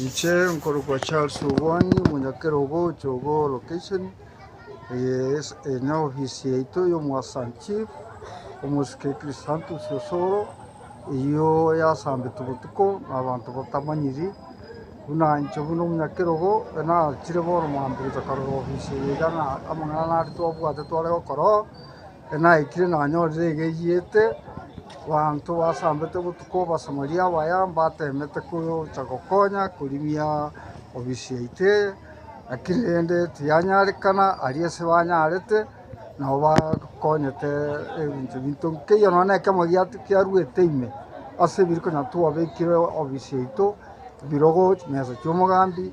Inche nkorokwa Charles Obwoni, omonyakera obo Jogoo location, eye neofisi yaito y'omoassant chief, omosike Christantus Osoro, eyio yasambete botuko na abanto batamanyiri, buna inche buna omonyakera obo nagachire bono mambia gocha korora ofisi eye iga ng'a amang'ana nare twabwate tware gokora oo. Naikire nanyorire egeyiete, banto basambete botuko Abasamaria abaya mbateemete kocha gokonya korimia obisi yaito eye, lakini rende tiyanyarekana, aria ase banyarete nabo bakonyete ebinto binto nkeiyo nonya nekioma kiaruete ime ase ebiri konya twabekire obisi yaito, ebirogo, chimesa chi'omogambi.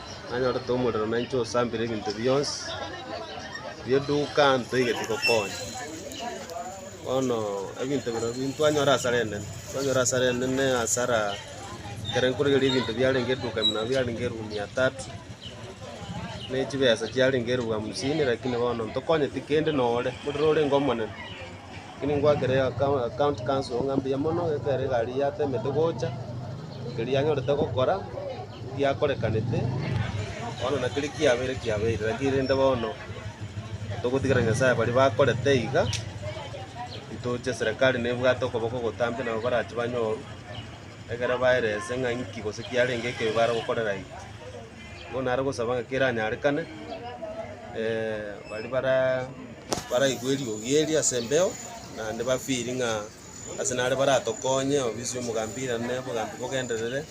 nanyorete omorero na inche osambire ebinto bionsi bieduka ntoigete gokonya. Bono ebinto biro bi ntwanyora hasara enene, twanyora hasara enene hasara ekero nkorigereria ebinto biarenge eduka ime nabo biarenge elfu mia tatu, ne chibesa chiarenge elfu hamsini lakini bono ntokonyeti kende noo ore, omorero orenge omonene. Ekero ngwakire county council ng'a mbuya mono ekero egari yatemete gocha, keria yanyorete gokora giakorekanete, bono na keria kiabeire kiabeire, lakini rende bono togotigera Nyasaye baria bakorete iga, ntoche serikali nebwate okoboko ogotambe nabo barache banyorwe, ekero baerese ng'a inki gose kiarenge ekebe baare gokorera iga. Bono nare gosaba ng'a kera anyarekane, baria bara baraigwe eriogi eri ase embeo, naende ba feel ng'a ase nare baratokonye obisi ya omogambi irane obogambi bogenderere,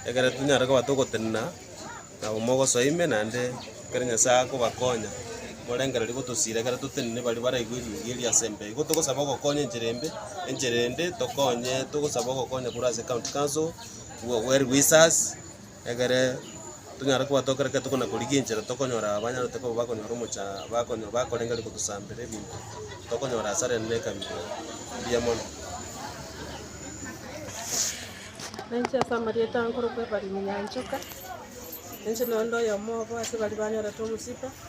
ekero tonyare koba togotenena nabo mogosoa ime naende ekero Nyasae akobakonya, morengererio gotosira ekero totenine baria baraigwe eriogi eri ase embeo. Igo togosaba ogokonywa enchera embe, enchera ende tokonye togosaba ogokonywa korwa ase county council, well wishers. Ekere tonyare kobwata ekero kera tokona korigia enchera tokonyora abanyarote koba bakonyora omocha bakonyo bakorengeria kotosambera ebinto tokonyora asare ende ekabira mbuya mono. Nainche ase amarieta nkorokwa Ebariri Nyanchoka, nainche noyo nde oyomo obo ase baria banyorete omosibe.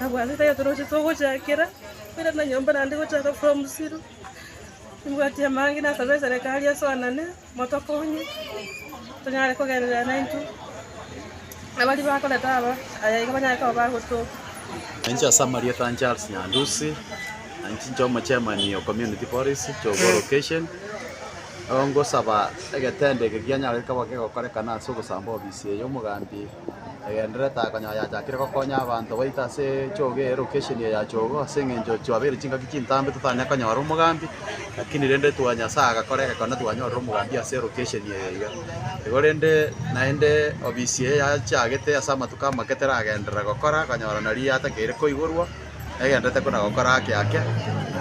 Abwo ase taiyo toroche togochakera, korende na nyomba naende gochaka korwa musiru. Nimbwati amaange nasabe eserekari esoanane motokonye, tonyare kogenderera naintwe. Abaria bakoreta aba, aya iga banyare koba bagotoka. Nainche ase amarieta a Charles Nyandusi, na inche inche omochairman o Community Boris Chogo Location, ngosaba egetendo eke kianyare koba kegokorekana ase ogosamba ofisi eye, omogambi. egendererete konya yachakire gokonya abanto baito ase echoge eye location eye ya chogo ase eng'encho twabeire chingaki chintambe totanyare konyora omogambi lakini rende twa Nyasaye agakora egekone twanyorire omogambi ase elocation eye iga. Igo rende naende obisi eye yachagete ase amatuko amake teragenderera gokora konyora nari yatakeire koigorwa. Egento tekona gokora ake ake,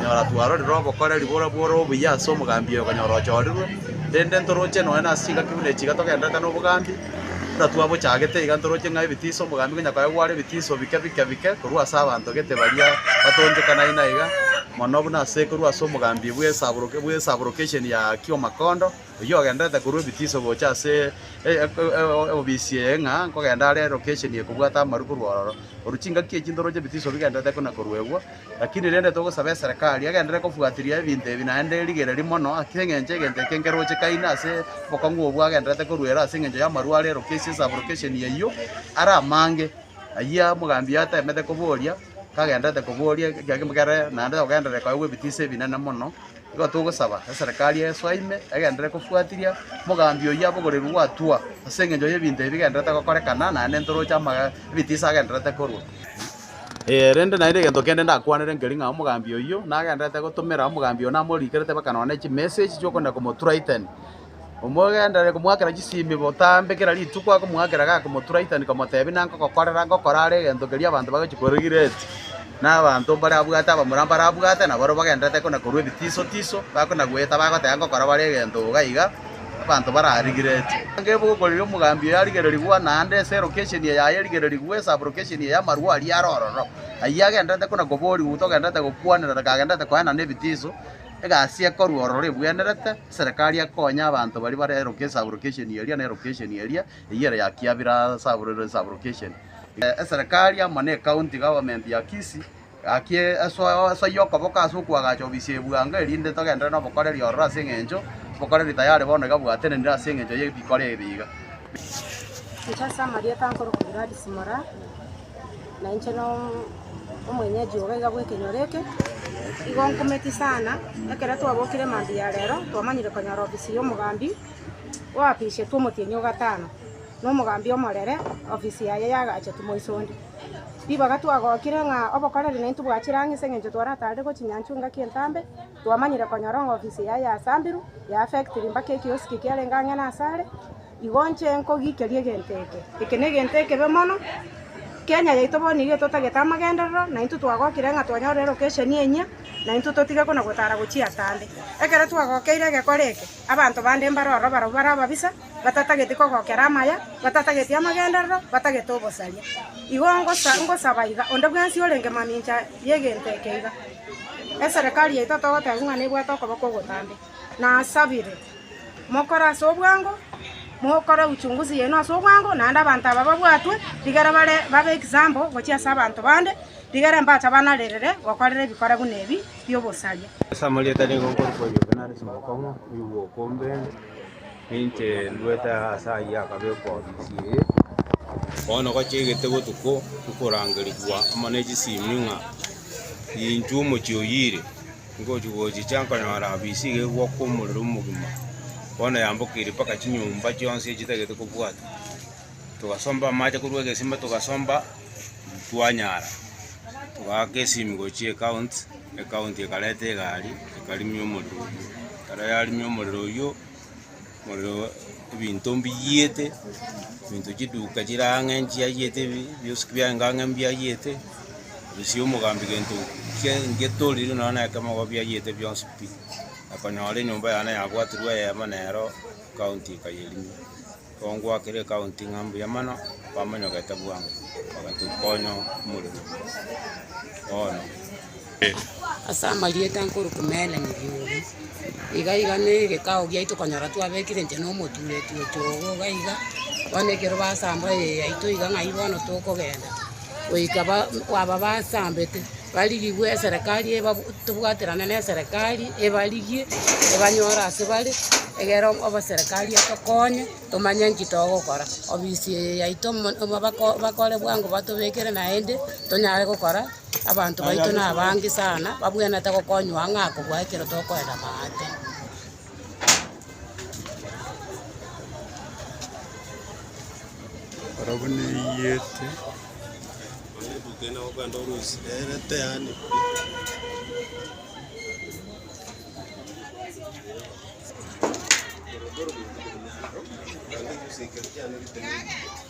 nyora twarorire obokoreri boria bore obuya ase omogambi oyo konyora ochorirwe, rende ntoroche nonya nase chingaki buna echi iga togendererete nobogambi, buna twabochagete iga ntoroche ng'a ebitiso omogambi konya koe gware ebitiso bike bike bike korwa ase abanto gete baria batonchokana aina iga, mono buna ase korwa ase omogambi bw'esaborok bw'esaborokeshen ya Kiamakondo. Oyio ogenderete korwa ebitiso gocha ase obisi eye ng'a nkogenda are location ye kobwata amaru korwa ororo. Oru chingaki echi ntoro chebitiso bigenderete kona koruegwa. Lakini rende togosaba eserekari egenderere kofuatiria ebinto ebi naende erigereri mono ase eng'encho egento eke nkeroche kaina ase obokong'u obwo agenderete koruera ase eng'encho y'amaru are location sub location eyio are amange. Ayia omogambi oyo atemete koboria kagenderete koboria ekiagera naende ogenderere koegwa ebitiso ebinene mono. Nigo togosaba eserekari yayeso ime egenderere kofuatiria mogambi oyio abogoreirwe gwatwa ase engencho y'ebinto ebi bigendererete gokorekana naende ntoroche amaga ebitiisa agendererete korwa. Ee, rende naende egento kende ndakwanere nkeri ng'a omogambi oyio nagendererete gotomera omogambi oyo namorikerete baka nonya ne chimessage chi'okonenda komoturaitania. Omogenderere komoakera chisimi botambe kera rituko, akomoakera agakomotura itani komotebia, Nangogokorera ngokora are egento keria abanto bagochia korigiretia, na abanto mbare abwate abamura mbare abwate, na barabwo bagendererete kona korwa ebitiso tiso, bakona goeta bagoteba ngokora bare egento iga iga, abanto bararigiretie. Nabo ogokorigia omogambi oyo arigererigwa, naende ense elocation yaye erigererigwe, esub-location eye y'amarwa aria are ororo. Ayio agendererete kona koborigwa, togendererete gokwanera reka agendererete koenana ebitiso. Egasi ekorwa ororo ebwenerete, eserekari ekonya abanto baria bare eroke esaburokesheni eria na erokesheni eria, eyio ere ya Kiabira Saburero Esaburokesheni. Eserekari amo ne County Government ya Kisii, gaki esoyie okoboka ase okoagacha obisi ya ebuanga, erinde togenderere nobokoreri ororo ase eng'encho obokoreri tayari bono iga bwatenenire ase eng'encho ye bikore ebi iga. Inche ase amarieta nkoroka Gladys Moraa. Na inche nomwenyeji obo iga bw'ekenyoro eke, igo nkometi sana, ekero twabokire mambia ya rero, twamanyire konyora ofisi y'omogambi oapishetwe omotienyi o gatano, na omogambi omorere ofisi yaye yagachetu moiso onde. Ribaga twagokire ng'a obokoreri naintwe bwachire ang'e ase eng'encho twaratarire gochia nyanchwa engaki entambe, twamanyire konyora ng'a ofisi yaye yasamberwa, ya affectiri mpaka ekioski kiarenge ang'e nasare. Igo nche nkogikeria egento eke. Eke negento ekebe mono. Kenya yaito bono nigo etotagete amagenderero, na intwe twagokire ng'a twanyore elokesheni enyia, na intwe totige kona gotara gochia ataande. Ekero twagokeire egekore eke, abanto bande mbare ororo barabwo bare ababisa, batatageti kogokera amaya, batatageti amagenderero, batagete obosaria. Igo ngosa ngosaba iga, onde bwensi orenge mamincha y'egento eke iga, eserekari yaito togotebiwa ng'a nebwate okoboko ogotambe. nasabire, mokore ase obwango, mokore uchunguzi yaino ase obwango, naende abanto aba babwatwe, rigere bare babe example gochia ase abanto bande, rigere mbacha banarerere gokorera ebikora buna ebi bi'obosaria. Ase amarieta nigo nkorokwa oyo obe nare chingokong'u, oyo bw'oka ombe, ninche nduete ase ayio akabekwa ofisi eye. Bono gochiegete botuko okorangerigwa amo ne chisemi ng'a inchuo omochie oyire. Ngochi-gochicha nkanyora habisi iga egwaka omorero omogima, bono yambokirie mpaka chinyomba chionsi echitagete kobwatwa. Togasomba amache korwa egesima togasomba, twanyara, togaaka esimi gochia ecounts, ecounti ekareta egari ekarimia omorero oyio. Ekero yarimia omorero oyio. Moreobo ebinto mbiyiete, ebinto chiduka chire ang'e nchiayiete, ebi- biosi biaye inga ang'e mbiayiete, gusii omogambi gento kie- ngetorire nonya na ekemo igo biayiete bionsi pi. Akonyora enyomba yane yabwatirwe eyemo nero ekaunti ekayerimia. Igo ngwakire ekaunti ng'a mbuya mono, bamonyogete bwango, bagatukonya omorero bono. Ase amarieta nkoru kumererania biugi, iga iga na egekao giaito okonyora twabekire inche na omoturetwe oito ogo iga iga, bono ekero basamba eye yaito iga ng'ai bono tokogenda, goika ba- aba basambete barigigwe eserekari ebabu tobwaterane na eserekari ebarigie, ebanyore ase bare, egere oboserekari etokonye tomanye nki togokora. Ofisi eye yaito mo- mo- bako bakore bwango batobekere naende tonyare gokora. Abanto baito nabange sana, babwenerete gokonywa ang'e akobua ekero tokoenda maate. Barabwo neiyete